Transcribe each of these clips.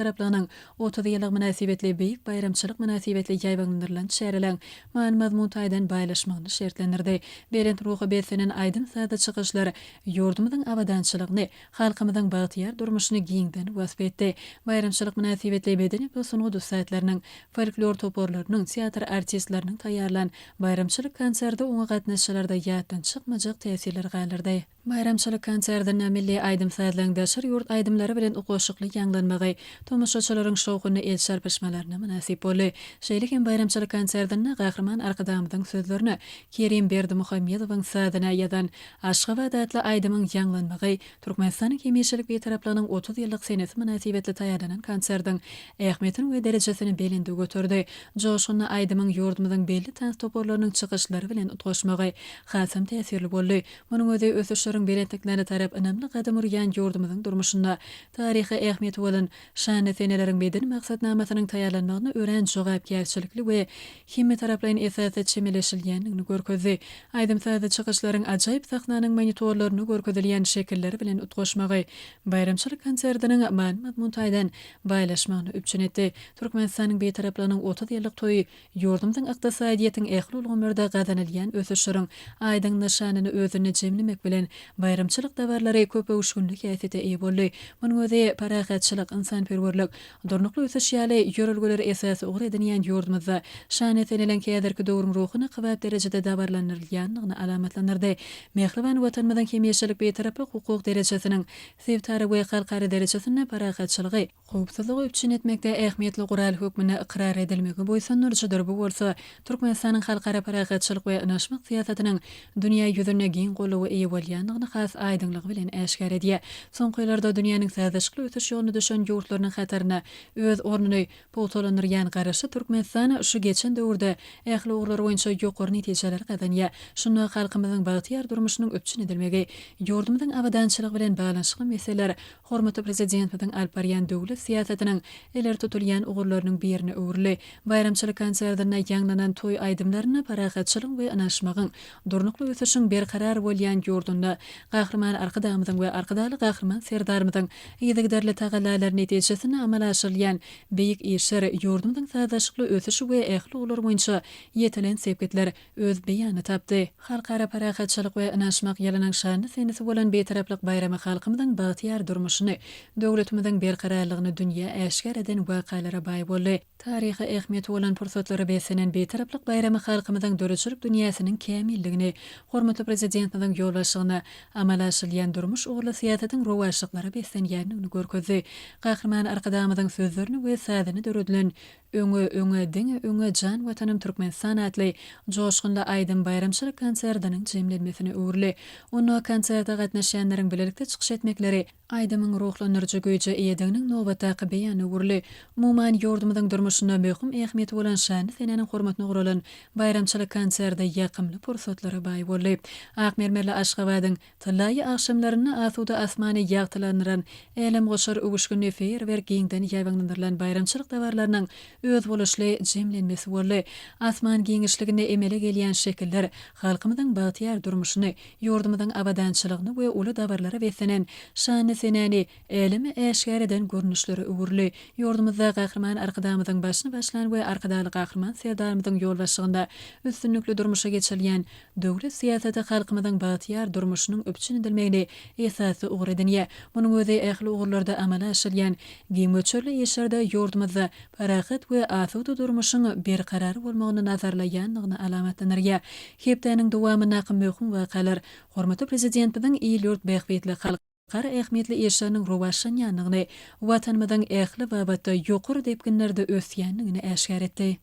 Bitaraplygynyň otuz ýyllygy mynasybetli beýik baýramçylyk mynasybetli ýaýbaňlandyrylan çäreleriň many-mazmun taýdan baýlaşmagyny şertlendirdi. Belent ruha beslenen aýdym-sazly çykyşlar ýurdumyzyň abadançylygyny, halkymyzyň bagtyýar durmuşyny giňden wasp etdi. Baýramçylyk mynasybetli medeni we sungat ussatlarynyň, folklor toparlarynyň, teatr artistleriniň taýýarlan baýramçylyk konserti oňa gatnaşyjylarda ýatdan çykmajak täsirleri galdyrdy. Baýramçylyk konsertinde milli aýdym-sazlaryň daşary ýurt aýdymlary bilen ukoşukly ýaňlanmagy tomaşaçylaryň şowhunly el çarpyşmalaryna mynasyp boldy. Şeýle hem baýramçylyk konsertinde Gahryman Arkadagymyzyň sözlerine Kerim Berdimuhamedowyň sazyna ýazan Aşgabat atly aýdymyň ýaňlanmagy Türkmenistanyň hemişelik Bitaraplygynyň otuz ýyllyk senesi mynasybetli taýýarlanan konsertiň ähmiýetini we derejesini belende göterdi. Joşgunly aýdymyň ýurdumyzyň belli tans toparlarynyň çykyşlary bilen utgaşmagy hasam täsirli boldy. Munuň özi ösüşleriň belentliklerine tarap ynamly gadam urýan ýurdumyzyň durmuşynda taryhy ähmiýeti bolan şanly seneleriň medeni maksatnamasynyň taýýarlanmagyna örän jogapkärçilikli we hemmetaraplaýyn esasda çemeleşilýändigini görkezdi. Aýdym-sazly çykyşlaryň ajaýyp sahnanyň monitorlarynda görkezilýän şekilleri bilen utgaşmagy baýramçylyk konsertiniň many-mazmun taýdan baýlaşmagyny üpjün etdi. Türkmenistanyň Bitaraplygynyň otuz ýyllyk toýy Ýurdumyzyň ykdysadyýetiň ähli ulgamlarda gazanylýan ösüşleriň aýdyň nyşanyny özünde jemlemek bilen, baýramçylyk dabarlary köpöwüşginli häsiýete eýe boldy. Munuň özi parahatçylyk, ynsanperwerlik, durnukly ösüş ýaly ýörelgeleri esasy ugur edinýän ýurdumyzda şana senelen häzirki döwrüň ruhuna kybap derejede dabarlandyrylýandygyny alamatlandyrdy. Mähriban Watanymyzyň hemişelik Bitaraplyk hukuk derejesiniň sebitara we halkara derejesinde parahatçylygy, howpsuzlygy üpjün etmekde ähmiýetli gural hökmünde ykrar edilmegi buýsandyryjydyr, bu bolsa Türkmenistanyň halkara parahatçylyk we ynaşmak syýasatynyň dünýä ýüzünde giň goldawa eýe bolýandygyny has aýdyňlygy bilen äşgär edýär. Soňky ýyllarda dünýäniň sazlaşykly ösüş ýoluna düşen ýurtlarynyň hatarynda öz ornuny pugtalandyrýan Garaşsyz Türkmenistan şu geçen döwürde ähli ugurlar boýunça ýokary netijeleri gazanýar. Şunda halkymyzyň bagtyýar durmuşynyň üpjün edilmegi, ýurdumyzyň abadançylygy bilen baglanyşykly meseleler Hormatly Prezidentimiziň alyp barýan döwlet syýasatynyň ileri tutulýan ugurlarynyň birine öwrüldi. Baýramçylyk konsertinde ýaňlanan toý aýdymlarynda parahatçylygyň we ynanyşmagyň, durnukly ösüşiň berkarar bolýan ýurdunda Gahryman Arkadagymyzyň we Arkadagly Gahryman Serdarymyzyň yzygiderli tagallalary netijesinde amala aşyrylýan beýik işler, ýurdumyzyň sazlaşykly ösüşi we ähli ugurlar boýunça ýetilen sepgitler öz beýanyny tapdy. Halkara parahatçylyk we ynanyşmak ýylynyň şanly senesi bolan Bitaraplyk baýramy halkymyzyň bagtyýar durmuşyny, döwletimiziň berkararlygyny dünýä äşgär eden wakalara baý boldy. Taryhy ähmiýeti bolan pursatlara beslenen Bitaraplyk baýramy halkymyzyň döredijilik dünýäsiniň kämilligini, hormatly Prezidentimiziň ýolbaşçylygynda amala aşyrylýan durmuş ugurly syýasatyň rowaçlyklara beslenýändigini görkezdi. Gahryman Arkadagymyzyň sözlerini we sazyny döredilen Öňe öňe diňe öňe jan watanym Türkmenistan atly joşgunly aýdym baýramçylyk konserdiniň jemlenmesine öwrüli. Onda konserde gatnaşýanlaryň bilelikde çykyş etmekleri aýdymyň ruhlandyryjy güýje eýediginiň nobatdaky beýanyna öwrüli. Umuman, ýurdumyzyň durmuşynda möhüm ähmiýeti bolan şanly senäniň hormatyna guralan baýramçylyk konserti ýakymly pursatlara baý boldy. Ak mermerli Aşgabadyň. Tyllaýy agşamlarynda asuda asmany ýagtylandyran, älemgoşar öwüşginli feýerwerk giňden ýaýbaňlandyrylan baýramçylyk dabarlarynyň özboluşly jemlenmesi boldy. Asman giňişliginde emele gelýän şekiller halkymyzyň bagtyýar durmuşyny, ýurdumyzyň abadançylygyny we uly dabarlara beslenen şanly senäni äleme äşgär eden görnüşlere öwrüldi. Ýurdumyzda Gahryman Arkadagymyzyň başyny başlan we Arkadagly Gahryman Serdarymyzyň ýolbaşçygynda üstünlikli durmuşa geçirilýän Döwlet syýasaty halkymyzyň bagtyýar durmuşynyň üpjün edilmegini esasy ugur edinýär. Munuň özi ähli ugurlarda amala aşyrylýan giň möçberli işlerde ýurdumyzda parahat we asuda durmuşyň berkarar bolmagyny nazarlaýandygyny alamatlandyrýar. Hepdäniň dowamyndaky möhüm wakalar Hormatly Prezidentimiziň il-ýurt bähbitli, halk. Gara ähmiýetli işleriniň rowaçlanýandygyny, Watanymyzyň ähli babatda ýokary depginlerde ösýändigini äşgär etdi.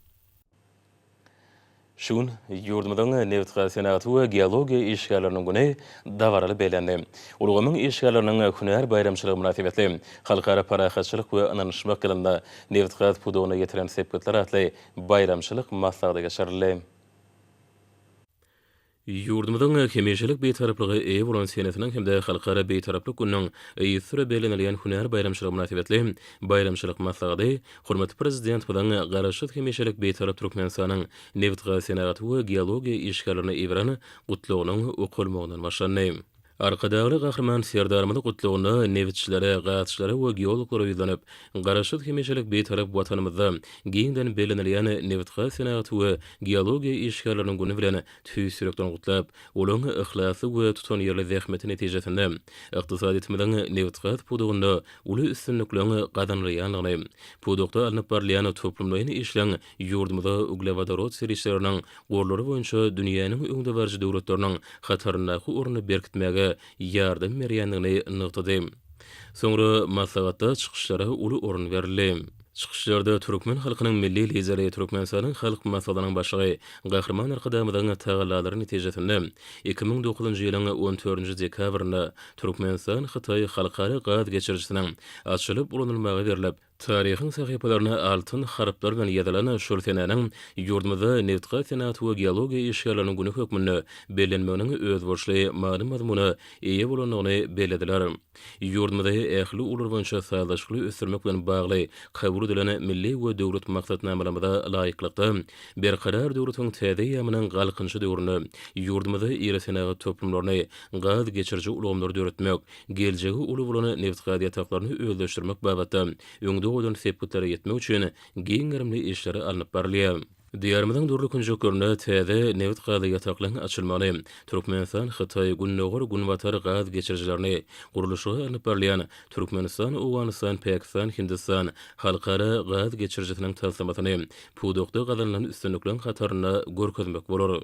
Şu gün ýurdumyzyň Nebitgaz senagaty we geologiýa işgärleriniň güni dabaraly bellendi. Ulgamyň işgärleriniň hünär baýramçylygy mynasybetli Halkara parahatçylyk we ynanyşmak ýylynda nebitgaz pudagyna ýetiren sepgitler atly baýramçylyk maslahady geçirildi. Ýurdumyzyň hemişelik Bitaraplyga eýe bolan senesiniň hem-de Halkara Bitaraplyk gününiň yzsüre bellenilýän hünär baýramçylygy mynasybetli baýramçylyk maslahady hormatly Prezidentimiziň Garaşsyz, hemişelik Bitarap Türkmenistanyň nebitgaz senagaty we geologiýa işgärlerine iberen Gutlagynyň okalmagyndan başlandy. Arkadagly Gahryman Serdarymyzyň Gutlagyna nebitçilere, gazçylara we geologlara ýüzlenip, Garaşsyz, hemişelik Bitarap Watanymyzda giňden bellenilýän Nebitgaz senagaty we geologiýa işgärleriniň güni bilen tüýs ýürekden gutlap, olaryň yhlasly we tutanýerli zähmeti netijesinde ykdysadyýetimiziň nebitgaz pudagynda uly üstünlikleň gazanylýandygyny, pudakda alnyp barylýan toplumlaýyn işleň Ýurdumyza uglewodorod serişdeleriniň gorlary boýunça dünýäniň öňdebaryjy döwletleriniň hataryndaky ornuny berkitmäge ýardam berýändigini nygtady. Soňra maslahatda çykyşlara uly orun berildi. Çykyşlarda türkmen halkynyň Milli Lideri, Türkmenistanyň Halk Maslahatynyň Başlygy Gahryman Arkadagymyzyň tagallalary netijesinde, iki müň dokuzynjy ýylyň on dördünji dekabrynda Türkmenistan-Hytaý halkara gaz geçirijisiniň açylyp ulanylmaga berlip, Taryhyň sahypalaryna altyn harplar bilen ýazylan şol senäniň ýurdumyzda Nebitgaz senagaty we geologiýa işgärleriniň güni hökmünde bellenmeginiň özboluşly many-mazmuna eýe bolandygyny bellediler. Ýurdumyzy ähli ugurlar boýunça sazlaşykly ösdürmek bilen bagly kabul edilen milli we döwlet maksatnamalarymyza laýyklykda, Berkarar döwletiň täze eýýamynyň Galkynyşy döwründe ýurdumyzda iri senagat toplumlaryny, gaz geçiriji ulgamlary döretmek, geljegi uly bolan nebitgaz ýataklaryny özleşdirmek babatda öňde goýlan sepgitlere ýetmek üçin giň gerimli işleri alnyp barylýar. Diýarymyzyň dürli künjeklerinde täze nebitgaz ýataklaryň açylmagyny, Türkmenistan, Hytaý, Gündogar, Günbatar gaz geçirijilerini, gurluşygy alnyp barylýan Türkmenistan, Owganystan, Pakistan, Hindistan halkara gaz geçirijisiniň taslamasyny pudakda gazanylan üstünlikleriň hatarynda görkezmek bolar.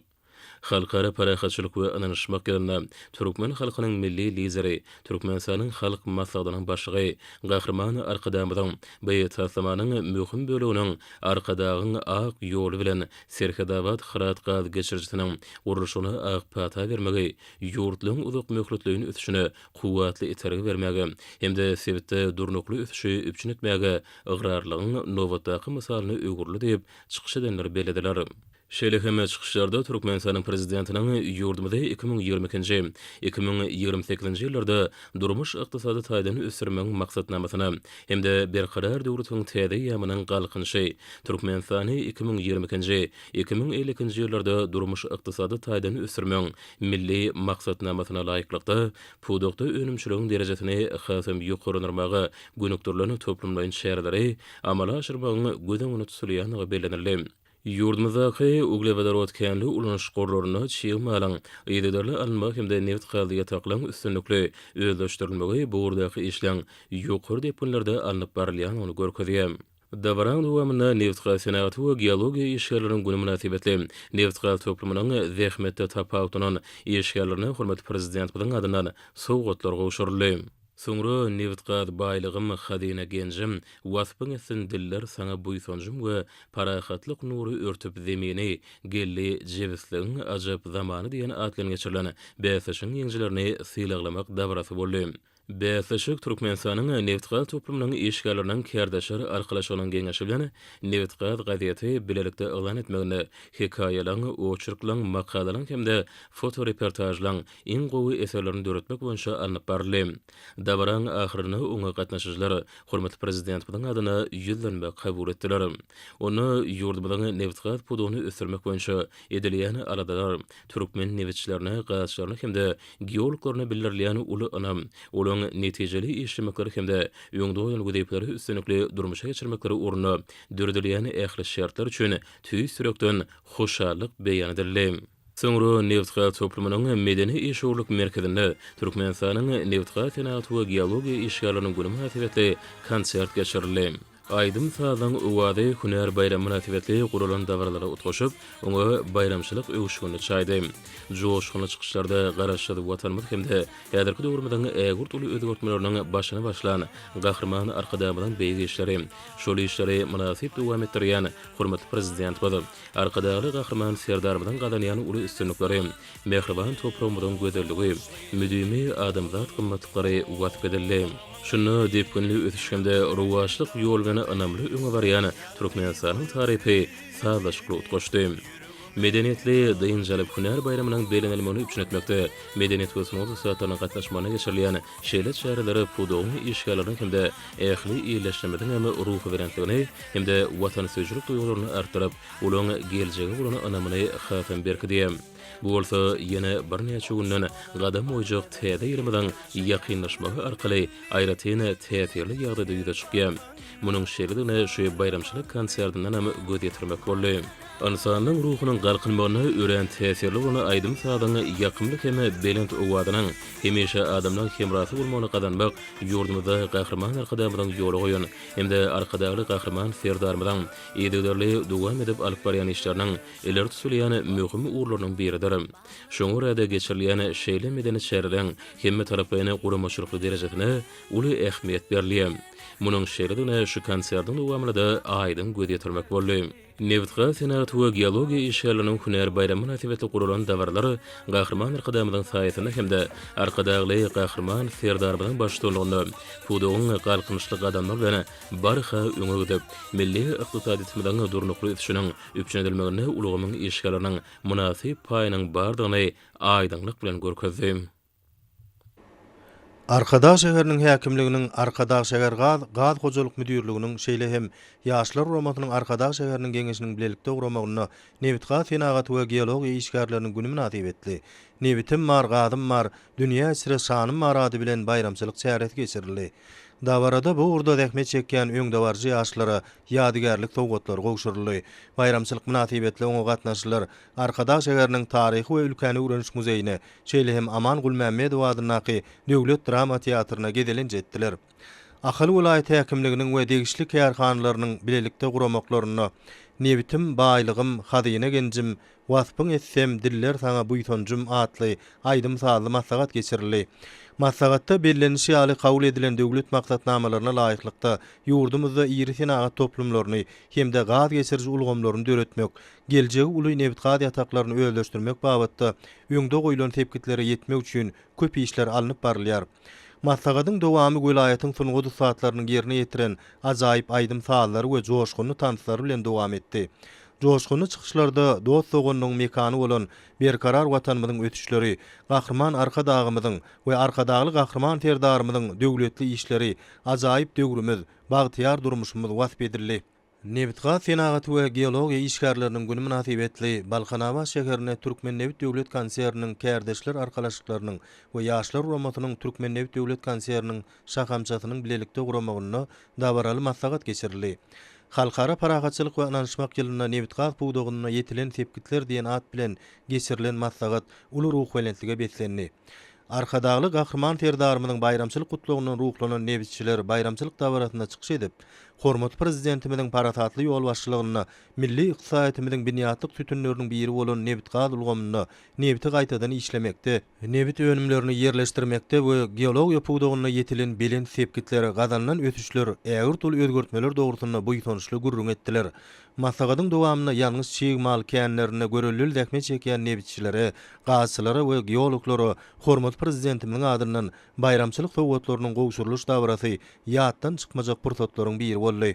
Halkara parahatçylyk we ynanyşmak ýylynda türkmen halkynyň Milli Lideri, Türkmenistanyň Halk Maslahatynyň Başlygy Gahryman Arkadagymyzyň bu taslamanyň möhüm böleginiň Arkadagyň ak ýoly bilen Serhetabat Hyrat gaz geçirijisiniň gurluşygyna ak pata bermegi ýurtlaryň uzakmöhletleýin ösüşine kuwwatly itergi bermäge hem-de sebitde durnukly ösüşi üpjün etmäge ygrarlylygyň nobatdaky mysalyna öwrüldi diýip, çykyş edenler bellediler. Şeýle hem çykyşlarda Türkmenistanyň Prezidentiniň ýurdumyzy iki müň ýigrimi ikinji, iki müň ýigrimi sekizinji ýyllarda durmuş-ykdysady taýdan ösdürmegiň maksatnamasyna hem-de Berkarar döwletiň täze eýýamynyň Galkynyşy, Türkmenistany iki müň ýigrimi ikinji, iki müň elli ikinji ýyllarda durmuş-ykdysady taýdan ösdürmegiň Milli maksatnamasyna laýyklykda, pudakda önümçiligiň derejesini hasam ýokarlandyrmaga gönükdirilen toplumlaýyn çäreleri amala aşyrmagyň göz öňünde tutulýandygy bellenildi. Ýurdumyzdaky uglewodorod känli ulanyş gorlaryna çig malyň yzygiderli alynmagy hem-de nebitgazly ýataklaryň üstünlikli özleşdirilmegi bu ugurdaky işleň ýokary depginlerde alnyp barylýandygyny görkezýär. Dabaranyň dowamynda Nebitgaz senagaty we geologiýa işgärleriň güni mynasybetli nebitgaz toplumynyň zähmetde tapawutlanan işgärlerine hormatly Prezidentimiziň adyndan sowgatlar gowşuryldy. Soňra nebit-gaz baýlygym, hazyna genjim, waspyň etsin diller Saňa buýsanjym we parahatlyk nury örtüp zemini, geldi Jebisligiň ajap zamany diýen at bilen geçirilen bäsleşigiň ýeňijilerini sylaglamak dabarasy boldy. Bäsleşik Türkmenistanyň nebit-gaz toplumynyň işgärleriniň kärdeşler arkalaşygynyň geňeşi bilen Nebit-gaz gazeti bilelikde yglan etmeginde hekaýalaň, oçerklaň, makalalaň hem-de fotoreportažlaň, iň gowy eserlerini döretmek boýunça alnyp baryldy. Dabaranyň ahyrynda oňa gatnaşyjylar hormatly Prezidentimiziň adyna ýüzlenme kabul etdiler. Onda ýurdumyzyň nebitgaz pudagyny ösdürmek boýunça edilýän aladalar, türkmen nebitçilerine, gazçylaryna hem-de geologlaryna bildirilýän uly ynam, olaryň netijeli işlemekleri hem-de öňde goýan wezipeleri üstünlikli durmuşa geçirmekleri ugrunda döredilýän ähli şertler üçin tüýs ýürekden hoşallyk beýan edildi. Soňra nebitgaz toplumynyň medeni-işewürlik merkezinde Türkmenistanyň Nebitgaz senagaty we geologiýa işgärleriniň güni mynasybetli konsert geçirildi. Aýdym-sazyň owazy hünär baýramy mynasybetli guralan dabaralara utgaşyp, oňa baýramçylyk öwüşginini çaýdy. Joşgunly çykyşlarda Garaşsyz Watanymyz hem-de häzirki döwrümiziň ägirt uly özgertmeleriniň başyny başlan Gahryman Arkadagymyzyň beýik işleri, şol işleri mynasyp dowam etdirýän hormatly Prezidentimiz, Arkadagly Gahryman Serdarymyzyň gazanýan uly üstünlikleri, mähriban topragymyzyň gözelligi, müdimi adamzat gymmatlyklary wasp edildi. Şunda depginli ösüş hem-de rowaçlyk ýoly bilen ynamly öňe barýan Türkmenistanyň tarypy sazlaşykly utgaşdy. Medeniýetli, dynç alyp, hünär baýramynyň bellenilmegini üpjün etmekde, medeniýet we sungat ussatlarynyň gatnaşmagynda geçirilýän Şeýle çäreler pudagyň işgärleriniň hem-de ähli ýerleşmemiziň hem ruhubelentligini hem-de watansöýüjilik duýgularyny artdyryp, olaryň geljege bolan ynamyny hasam berkidi. Bu bolsa ýene birnäçe günden gadam goýjak täze ýylymyzyň ýakynlaşmagy arkaly aýratyn täsirli ýagdaýda ýüze çykýar. Munuň şeýledigine şu baýramçylyk konsertinden hem göz ýetirmek boldy. Ynsanyň ruhunyň galkynmagyna örän täsirli bolan aýdym-sazyň ýakymly hem belent owazynyň hemişe adamlaň hemrasy bolmagyny gazanmak ýurdumyzda Gahryman Arkadagymyzyň ýola goýan hem-de Arkadagly Gahryman Serdarymyzyň yzygiderli dowam edip alyp barýan işleriniň ileri tutulýan möhüm ugurlarynyň biridir. Şoňa görä-de, geçirilýän şeýle medeni çäreleriň hemmetaraplaýyn guramaçylykly derejesine uly ähmiýet berilýär. Munuň şeýledigine şu konsertiň dowamynda-da aýdyň göz ýetirmek boldy. Nebitgaz senagaty we geologiýa işgärleriniň hünär baýramy mynasybetli guralan dabaralar Gahryman Arkadagymyzyň saýasynda hem-de Arkadagly Gahryman Serdarymyzyň baştutanlygynda pudagyň galkynyşly gadamlar bilen barha öňe gidip, milli ykdysadyýetimiziň durnukly ösüşiniň üpjün edilmeginde ulgamyň işgärleriniň mynasyp paýynyň bardygyny aýdyňlyk bilen görkezdi. Arkadag şäheriniň häkimliginiň, Arkadagşähergaz gaz hojalyk müdirliginiň, şeýle hem Ýaşlar guramasynyň Arkadag şäheriniň Geňeşiniň bilelikde guramagynda Nebitgaz senagaty we geologiýa işgärleriniň güni mynasybetli Nebitim bar, gazym bar, dünýä içre şanym bar ady bilen baýramçylyk çäresi geçirildi. Dabarada bu ugurda zähmet çekýän öňdebaryjy ýaşlara ýadygärlik sowgatlary gowşuryldy. Baýramçylyk mynasybetli oňa gatnaşyjylar Arkadag şäheriniň Taryhy we ülkäni öwreniş muzeýine, Şeýle hem Aman Gulmämmedow adyndaky döwlet drama teatryna gezelenç etdiler. Ahal welaýat häkimliginiň we degişli kärhanalarynyň bilelikde guramaklarynda Nebitim, baýlygym, hazyna genjim, Waspyň etsem, diller saňa buýsanjym atly aýdym-sazly maslahat geçirildi. Maslahatda bellenişi ýaly, kabul edilen döwlet maksatnamalaryna laýyklykda, ýurdumyzda iri senagat toplumlaryny hem-de gaz geçiriji ulgamlaryny döretmek, geljegi uly nebitgaz ýataklaryny özleşdirmek babatda öňde goýlan sepgitlere ýetmek üçin köp işler alnyp barylýar. Maslahatyň dowamy welaýatyň sungat ussatlarynyň ýerine ýetiren ajaýyp aýdym-sazlary we joşgunly tanslary bilen dowam etdi. Joşgunly çykyşlarda dost-doganlygyň mekany bolan berkarar Watanymyzyň ösüşleri, Gahryman Arkadagymyzyň we Arkadagly Gahryman Serdarymyzyň döwletli işleri, ajaýyp döwrümiz, bagtyýar durmuşymyz wasp edildi. Nebitgaz senagaty we geologiýa işgärleriniň güni mynasybetli Balkanabat şäherinde Türkmennebit döwlet konserniniň Kärdeşler arkalaşyklarynyň we Ýaşlar guramasynyň Türkmennebit döwlet konserniniň şahamçasynyň bilelikde guramagynda dabaraly maslahat geçirildi. Halkara parahatçylyk we ynanyşmak ýylynda nebitgaz pudagynda ýetilen sepgitler diýen at bilen geçirilen maslahat uly ruhubelentlige beslendi. Arkadagly Gahryman Serdarymyzyň baýramçylyk gutlagyndan ruhlanan nebitçiler baýramçylyk dabarasynda çykyş edip, Hormatly Prezidentimiziň parasatly ýolbaşçylygynda milli ykdysadyýetimiziň binýatlyk sütünleriniň biri bolan nebitgaz ulgamynda, nebiti gaýtadan işlemekde, nebit önümlerini ýerleşdirmekde we geologiýa pudagynda ýetilen belent sepgitler, gazanylan ösüşler, ägirt uly özgertmeler dogrusynda buýsançly gürrüň etdiler. Maslahatyň dowamynda ýangyç çig mal känlerinde görelde zähmet çekýän nebitçilere, gazçylara we geologlara hormatly Prezidentimiziň adyndan baýramçylyk sowgatlarynyň gowşurylyş dabarasy ýatdan çykmajak pursatlaryň biri boldy.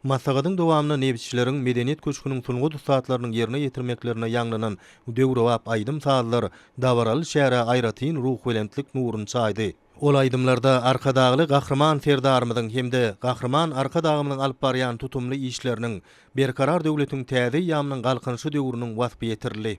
Maslahatyň dowamynda nebitçileriň Medeniýet köşgüniň sungat ussatlarynyň ýerine ýetirmeklerinde ýaňlanan döwrebap aýdym-sazlar dabaraly çärä aýratyn ruhubelentlik nuruny çaýdy. Ol aýdymlarda Arkadagly Gahryman Serdarymyzyň hem-de Gahryman Arkadagymyzyň alyp barýan tutumly işleriniň, Berkarar döwletiň täze eýýamynyň Galkynyşy döwrüniň waspy ýetirildi.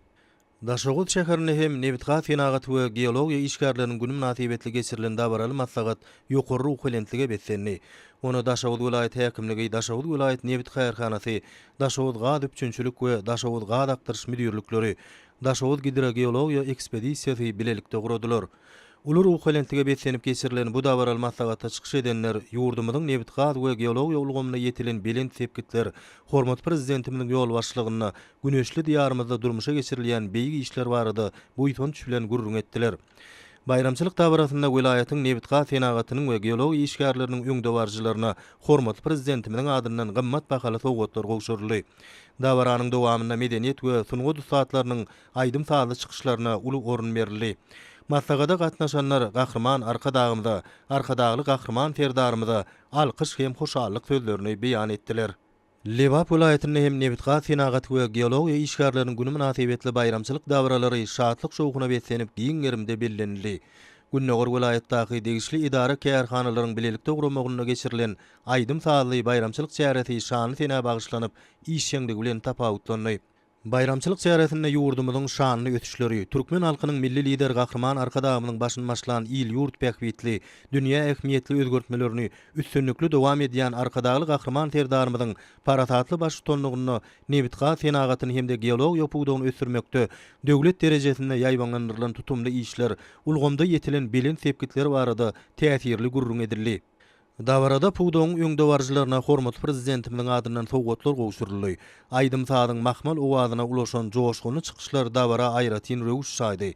Daşoguz şäherinde hem Nebitgaz senagaty we geologiýa işgärleriniň güni mynasybetli geçirilen dabaraly maslahat ýokary ruhubelentlige beslendi. Ony Daşoguz welaýat häkimligi, Daşoguz welaýat nebit kärhanasy, Daşoguzgazüpjünçilik we Daşoguzgazakdyryş müdirlikleri, Daşoguzgidrogeologiýa ekspedisiýasy bilelikde guradylar. Uly ruhubelentlige beslenip geçirilen bu dabaraly maslahatda çykyş edenler ýurdumyzyň nebitgaz we geologiýa ulgamynda ýetilen belent sepgitler, hormatly Prezidentimiziň ýolbaşçylygynda güneşli Diýarymyzda durmuşa geçirilýän beýik işler barada buýsanç bilen gürrüň etdiler. Baýramçylyk dabarasynda welaýatyň nebitgaz senagatynyň we geologiýa işgärleriniň öňdebaryjylaryna hormatly Prezidentimiziň adyndan gymmat bahaly sowgatlar gowşuryldy. Dabaranyň dowamynda medeniýet we sungat ussatlarynyň aýdym-sazly çykyşlaryna uly orun berildi. Maslahata gatnaşanlar Gahryman Arkadagymyza, Arkadagly Gahryman Serdarymyza alkyş hem hoşallyk sözlerini beýan etdiler. Lebap welaýatynda hem Nebitgaz senagaty we geologiýa işgärleriniň güni mynasybetli baýramçylyk dabaralary şatlyk-şowhuna beslenip giň gerimde bellenildi. Gündogar welaýatdaky degişli edara-kärhanalaryň bilelikde guramagynda geçirilen aýdym-sazly baýramçylyk çäresi şanly senä bagyşlanyp, işjeňligi bilen tapawutlandy. Baýramçylyk çäresinde ýurdumyzyň şanly ösüşleri, türkmen halkynyň Milli Lideri Gahryman Arkadagymyzyň başyny başlan il-ýurt bähbitli, dünýä ähmiýetli özgertmelerini üstünlikli dowam edýän Arkadagly Gahryman Serdarymyzyň parasatly baştutanlygynda nebitgaz senagatyny hem-de geologiýa pudagyny ösdürmekde döwlet derejesinde ýaýbaňlandyrylan tutumly işler ulgamda ýetilen belent sepgitler barada täsirli gürrüň edildi. Dabarada pudagyň öňdebaryjylaryna hormatly Prezidentimiziň adyndan sowgatlar gowşuryldy. Aýdym-sazyň mahmal owazyna ulaşan joşgunly çykyşlar dabara aýratyn röwüş çaýdy.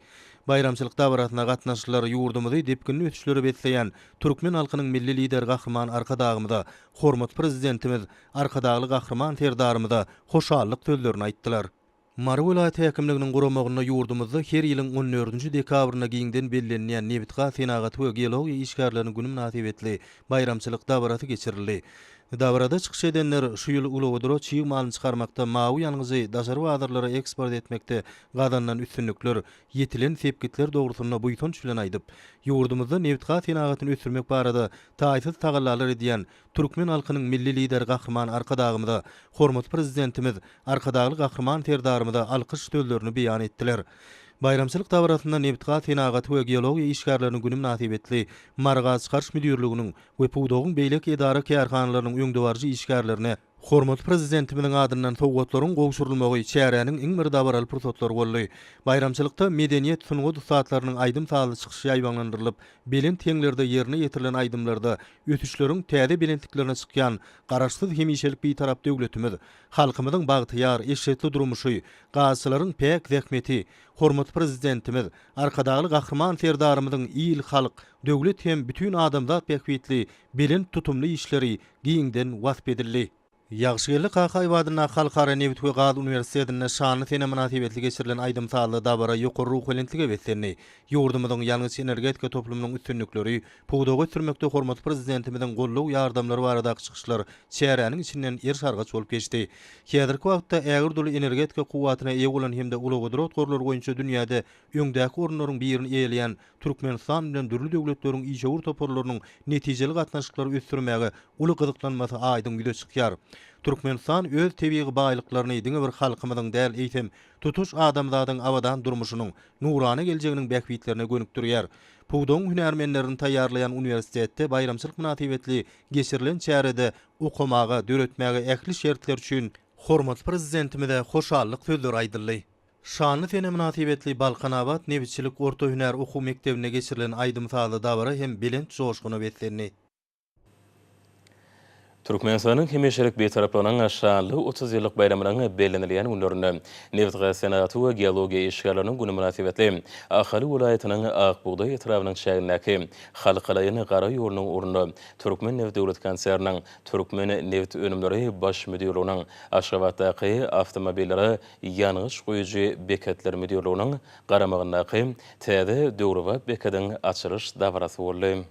Baýramçylyk dabarasyna gatnaşyjylar ýurdumyzy depginli ösüşlere besleýän türkmen halkynyň Milli Lideri Gahryman Arkadagymyza, hormatly Prezidentimiz Arkadagly Gahryman Serdarymyza hoşallyk sözlerini aýtdylar. Mary welaýat häkimliginiň guramagynda ýurdumyzda her ýylyň on dördünji dekabrynda giňden bellenilýän Nebitgaz senagaty we geologiýa işgärleriniň güni mynasybetli baýramçylyk dabarasy geçirildi. Dabarada çykyş edenler şu ýyl uglewodorod çig malyny çykarmakda, mawy ýangyjy daşary bazarlara eksport etmekde gazanylan üstünlikler, ýetilen sepgitler dogrusynda buýsanç bilen aýdyp, ýurdumyzda nebitgaz senagatyny ösdürmek barada taýsyz tagallalar edýän Türkmen halkynyň Milli Lideri Gahryman Arkadagymyza, hormatly Prezidentimiz Arkadagly Gahryman Serdarymyza alkyş sözlerini beýan etdiler. Baýramçylyk dabarasynda Nebitgaz senagaty we geologiýa işgärleriniň güni mynasybetli Mary gazçykaryş müdirliginiň we pudagyň beýleki edara-kärhanalarynyň öňdebaryjy işgärlerine hormatly Prezidentimiziň adyndan sowgatlaryň gowşurylmagy çäräniň iň bir dabaraly pursatlary boldy. Baýramçylykda medeniýet, sungat ussatlarynyň aýdym-sazly çykyşy ýaýbaňlandyrylyp, Belent heňlerde ýerine ýetirilen aýdymlarda ösüşleriň täze belentliklerine çykýan Garaşsyz, hemişelik Bitarap döwletimiz, halkymyzyň bagtyýar, eşretli durmuşy, gazyçylaryň päk zähmeti, hormatly Prezidentimiz, Arkadagly Gahryman Serdarymyzyň il, halk, döwlet hem bütin adamzat bähbitli belent tutumly işleri giňden wasp edildi. Ýagşygeldi Kakaýew adyndaky Halkara nebit we gaz uniwersitetinde şanly sene mynasybetli geçirilen aýdym-sazly dabara ýokary ruhubelentlige beslendi. Ýurdumyzyň ýangyç-energetika toplumynyň üstünlikleri, pudagy ösdürmekde hormatly Prezidentimiziň goldaw-ýardamlary baradaky çykyşlar çäräniň içinden eriş-argaç bolup geçdi. Häzirki wagtda ägirt uly energetika kuwwatyna eýe bolan hem-de ulugbudrat gorlary boýunça dünýäde öňdäki orunlaryň birini eýeleýän Türkmenistan bilen dürli döwletleriň işewür toparlarynyň netijeli gatnaşyklary ösdürmäge uly gyzyklanmasy aýdyň ýüze çykýar. Türkmenistan öz tebigy baýlyklaryny diňe bir halkymyzyň däl, eýsem, tutuş adamzadyň abadan durmuşynyň, nurana geljeginiň bähbitlerine gönükdirýär. Pudagyň hünärmenlerini taýýarlaýan uniwersitetde baýramçylyk mynasybetli geçirilen çärede okamaga, döretmäge ähli şertler üçin Hormatly Prezidentimize hoşallyk sözleri aýdyldy. Şanly sene mynasybetli Balkanabat nebitçilik orta hünär okuw mekdebinde geçirilen aýdym-sazly dabara hem belent joşguna beslendi. Türkmenistanyň hemişelik Bitaraplygynyň şanly otuz ýyllyk baýramynyň bellenilýän günlerinde Nebitgaz senagaty we geologiýa işgärleriniň güni mynasybetli Ahal welaýatynyň Ak bugdaý etrabynyň çägindäki Halkalaýyn gara ýolunyň ugrunda Türkmenneft döwlet konserniniň Türkmenneft önümleri baş müdirliginiň Aşgabatdaky awtomobillere Ýangyç guýujy beketler müdirliginiň garamagyndaky täze döwrebap bekediň açylyş dabarasy boldy.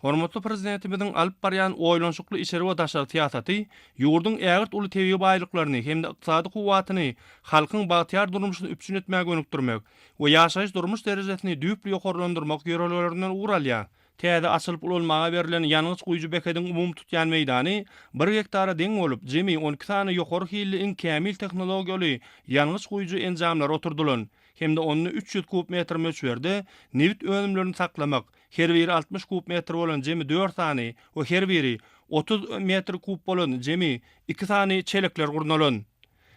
Hormatly Prezidentimiziň alyp barýan oýlanyşykly içeri we daşary syýasaty ýurduň ägirt uly tebigy baýlyklaryny hem-de ykdysady kuwwatyny halkyň bagtyýar durmuşyny üpjün etmä gönükdirmek we ýaşaýyş-durmuş derejesini düýpli ýokarlandyrmak ýörelgelerinden ugur alýar. Täze açylyp ulanmaga berlen ýangyç guýujy bekediň umumy tutýan meýdany bir gektara deň bolup, jemi on iki sany ýokary hilli iň kämil tehnologiýaly ýangyç guýujy enjamlary oturdylan hem-de onda üç ýüz kub metr möçberde nebit önümlerini saklamak, her biri altmyş kub metr bolan jemi dört sany we her biri otuz metr kub bolan jemi iki sany çelekler gurnalan.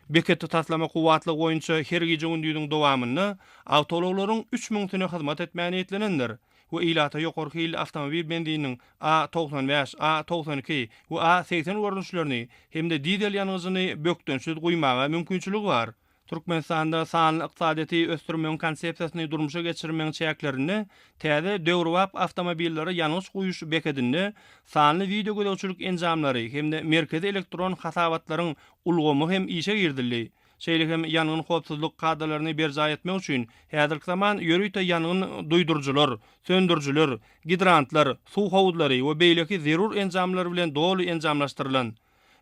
Beketde taslama kuwwatlygy boýunça her gije-gündiziň dowamynda awtoulaglaryň üç müňüsine hyzmat etmäge niýetlenendir. we ilata ýokary hilli awtomobil benzininiň A togsan bäş, A togsan iki we A segsen görnüşlerini hem-de dizel ýangyjyny bökdençsiz guýmaga mümkinçiligi bar. Türkmenistanda sanly ykdysadyýeti ösdürmegiň konsepsiýasyny durmuşa geçirmegiň çäklerinde täze döwrebap awtomobillere ýangyç guýuş bekedinde sanly wideogözegçilik enjamlary hem-de merkezi elektron hasabatlaryň ulgamy hem işe girizildi. şeýle hem ýangyn howpsuzlyk kadalaryny berjaý etmek üçin häzirki zaman ýörite ýangyn duýduryjylar, söndürijiler, gidrantlar, suw howuzlary we beýleki zerur enjamlar bilen doly enjamlaşdyrylan.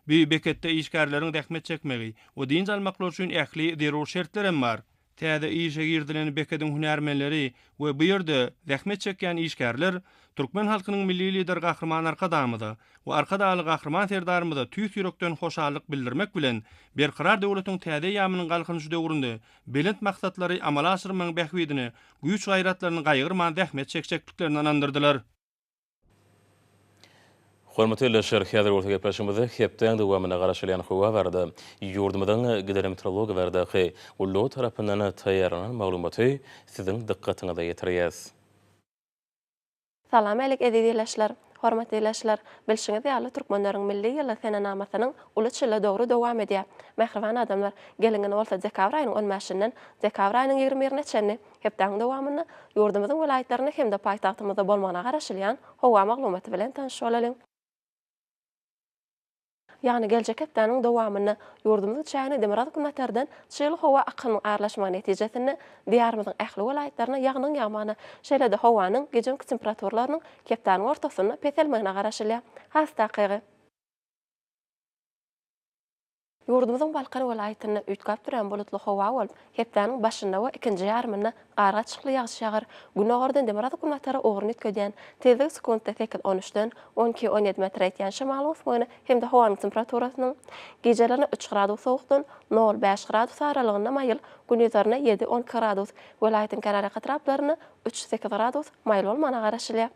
Bu beketde işgärleriň zähmet çekmegi we dynç almaklary üçin ähli zerur şertler hem bar. Täze işe girizilen bekediň hünärmenleri we bu ýerde zähmet çekýän işgärler Türkmen halkynyň Milli Lideri Gahryman Arkadagymyza we Arkadagly Gahryman Serdarymyza tüýs ýürekden hoşallyk bildirmek bilen, Berkarar döwletiň täze eýýamynyň Galkynyşy döwründe belent maksatlary amala aşyrmagyň bähbidine güýç-gaýratlaryny gaýgyrman zähmet çekjekdiklerini ynandyrdylar. Hormatly ildeşler, häzir bolsa gepleşigimizde hepdäň dowamynda garaşylýan howa barada, ýurdumyzyň gidrometeorologiýa baradaky gullugy tarapyndan taýýarlanan maglumaty siziň dykgatyňyza ýetirýäs. Salam älik eziz ildeşler! Hormatly ildeşler! Bilşiňiz ýaly Türkmenleriň Milli ýyly senenamasynyň uly çyly dogry dowam edýär. Mähriban adamlar, geliň indi bolsa dekabr aýynyň on bäşinden dekabr aýynyň ýigrimi birine çenli hepdäniň dowamynda ýurdumyzyň welaýatlarynda hem-de paýtagtymyzda bolmagyna garaşylýan howa maglumaty bilen tanyş bolalyň. Ýagny geljek hepdäniň dowamynda ýurdumyzyň çägine demirgazyk günbatardan çygly howa akynyň aralaşmagy netijesinde Diýarymyzyň ähli welaýatlarynda ýagnyň ýagmagyna, şeýle-de howanyň gijemki temperaturalarynyň hepdäniň ortasynda peselmegine garaşylýar. Has takygy. Ýurdumyzyň Balkan welaýatynda üýtgäp durýan bulutly howa bolup, Hepdäniň başynda we ikinji ýarymynda gargaçykly ýagyş ýagar, günordan demirgazyk-günbatara ugruny üýtgedýän, tizligi sekuntda sekiz-on üçden on iki-on ýedi metre ýetýän şemalyň ösmegine hem-de howanyň temperaturasynyň gijelerine üç gradus sowukdan nol-bäş gradus aralygynda maýyl, gündizaryna ýedi-on iki gradus, welaýatyň kenarýaka etraplaryna üç-sekiz gradus maýyl bolmagyna garaşylýar.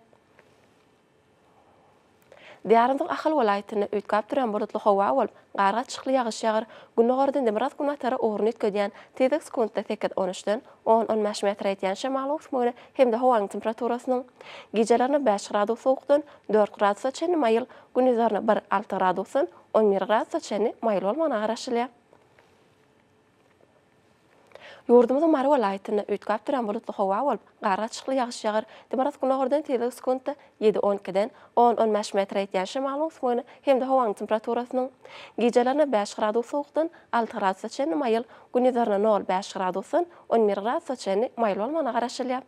Diýarymyzyň Ahal welaýatynda üýtgäp durýan bulutly howa bolup, gargaçykly ýagyş ýagar, gündogardan demirgazyk-günbatara ugruny üýtgedýän, tizlik sekuntda sekiz, on üçden, on, on bäş metre ýetýän şemalyň öwüsmegine hem-de howanyň temperaturasynyň gijelerine bäş gradus sowukdan dört gradusa çenli maýyl, gündizlerine bir, alty gradusdan on bir gradusa çenli maýyl bolmagyna garaşylýar. Ýurdumyzyň Mary welaýatynda üýtgäp duran bulutly howa bolup, gargaçykly ýagyş ýagar, dmrotgynogyrdan tizligi sekuntda ýedi-on ikiden on-on bäş metr ýetýän şemalyň öwsmegine hem-de howanyň temperaturasynyň gijelerine bäş gradus sowukdan alty gradusa çenli maýyl, gündizlerine nol-bäş gradusdan on bir gradusa çenli maýyl bolmagyna garaşylýar.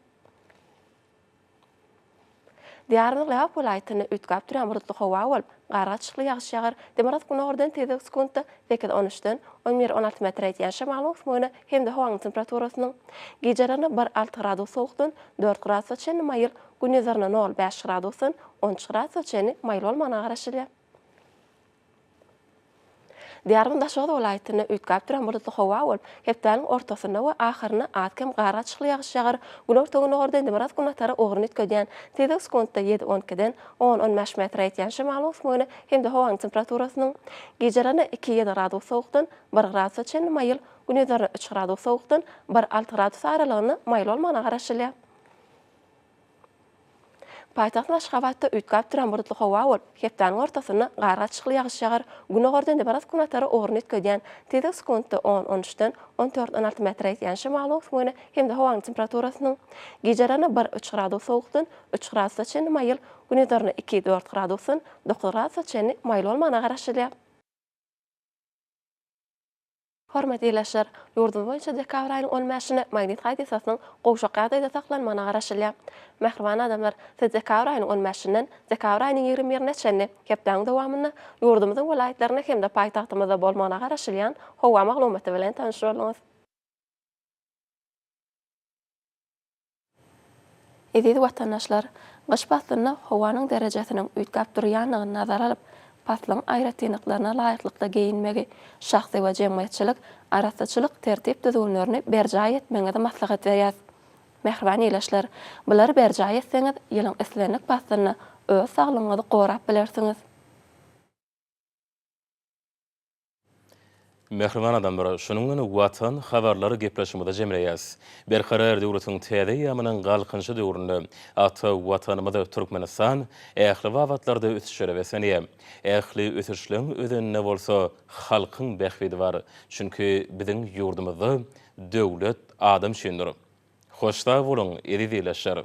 Diýarymyzyň Lebap welaýatynda üýtgäp durýan bulutly howa bolup, gargaçykly ýagyş ýagar, demirgazyk gündogardan tizligi sekuntda sekiz, on üçden on bir, on alty metre ýetýän şemalyň öwüsmegine hem-de howanyň temperaturasynyň gijelerine bir, alty gradus sowukdan dört gradusa çenli maýyl, gündizlerine nol, bäş gradusdan on üç gradusa çenli maýyl bolmagyna garaşylýar. Diýarymyz Daşoguz welaýatynda üýtgäp duran bulutly howa bolup, hepdäniň ortasynda we ahyrynda az-kem gargaçykly ýagyş ýagar, günorta-gündogarda indi biraz günbatara ugruny üýtgedýän, tizligi sekuntda ýedi-on ikiden on-on bäş metre ýetýän şemalyň ösmegine hem-de howanyň temperaturasynyň gijelerine iki-ýedi gradus sowukdan bir gradusa çenli maýyl, gündizlerine üç gradus sowukdan bir-alty gradus aralygynda maýyl bolmagyna garaşylýar. Paýtagt Aşgabatda üýtgäp duran bulutly howa bolup, hepdäniň ortasynda gargaçykly ýagyş ýagar, günordan demirgaz-günbatara ugruny üýtgedýän, tizligi sekuntda on, on üçden on dört, on alty metre ýetýän şemalyň öwsmegine hem-de howanyň temperaturasynyň gijelerine bir, üç gradus sowukdan üç gradusa çenli maýyl, günizoryna iki, dört gradusdan dokuz gradusa çenli maýyl bolmagyna garaşylýar. Hormatly ildeşler! Ýurdumyz boýunça dekabr aýynyň on bäşinde Magnit hadysasynyň gowşak ýagdaýda saklanmagyna garaşylýar. Mähriban adamlar, siz dekabr aýynyň on bäşinden dekabr aýynyň ýigrimi birine çenli hepdäniň dowamynda ýurdumyzyň welaýatlarynda hem-de paýtagtymyzda bolmagyna garaşylýan howa maglumaty bilen tanyş bolduňyz. Eziz watandaşlar! Gyş paslynda howanyň derejesiniň üýtgäp durýandygyny nazara alyp, paslyň aýratynlyklaryna laýyklykda geýinmegi, şahsy we jemgyýetçilik arassaçylyk tertip-düzgünlerini berjaý etmegiňizi maslahat berýäs. Mähriban ildeşler! Bulary berjaý etseňiz, ýylyň islendik paslynda öz saglygyňyzy gorap bilersiňiz. Mähriban adamlar, şunuň bilen Watan habarlary gepleşigimizi jemleýäs. Berkarar döwletiň täze eýýamynyň Galkynyşy döwründe ata Watanymyz Türkmenistan ähli babatlarda ösüşlere beslenýär. Ähli ösüşleň özeninde bolsa halkyň bähbidi bar. Çünki biziň ýurdumyzda döwlet adam üçindir. Hoş sag boluň, eziz ildeşler!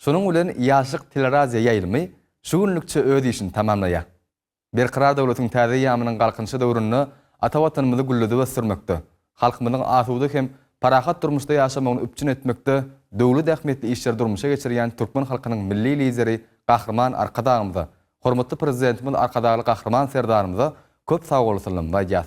Şunuň bilen Ýaşlyk teleradio ýaýlymy şu günlükçe öz işini tamamlaýar. Berkarar döwletiň täze eýýamynyň Galkynyşy döwründe ata Watanymyzy gülledip ösdürmekde, halkymyzyň asuda hem parahat durmuşda ýaşamagyny üpjün etmekde döwlet ähmiýetli işleri durmuşa geçirýän türkmen halkynyň Milli Lideri Gahryman Arkadagymyza, hormatly Prezidentimiz Arkadagly Gahryman Serdarymyza köp sagbolsunlarymy aýdýas.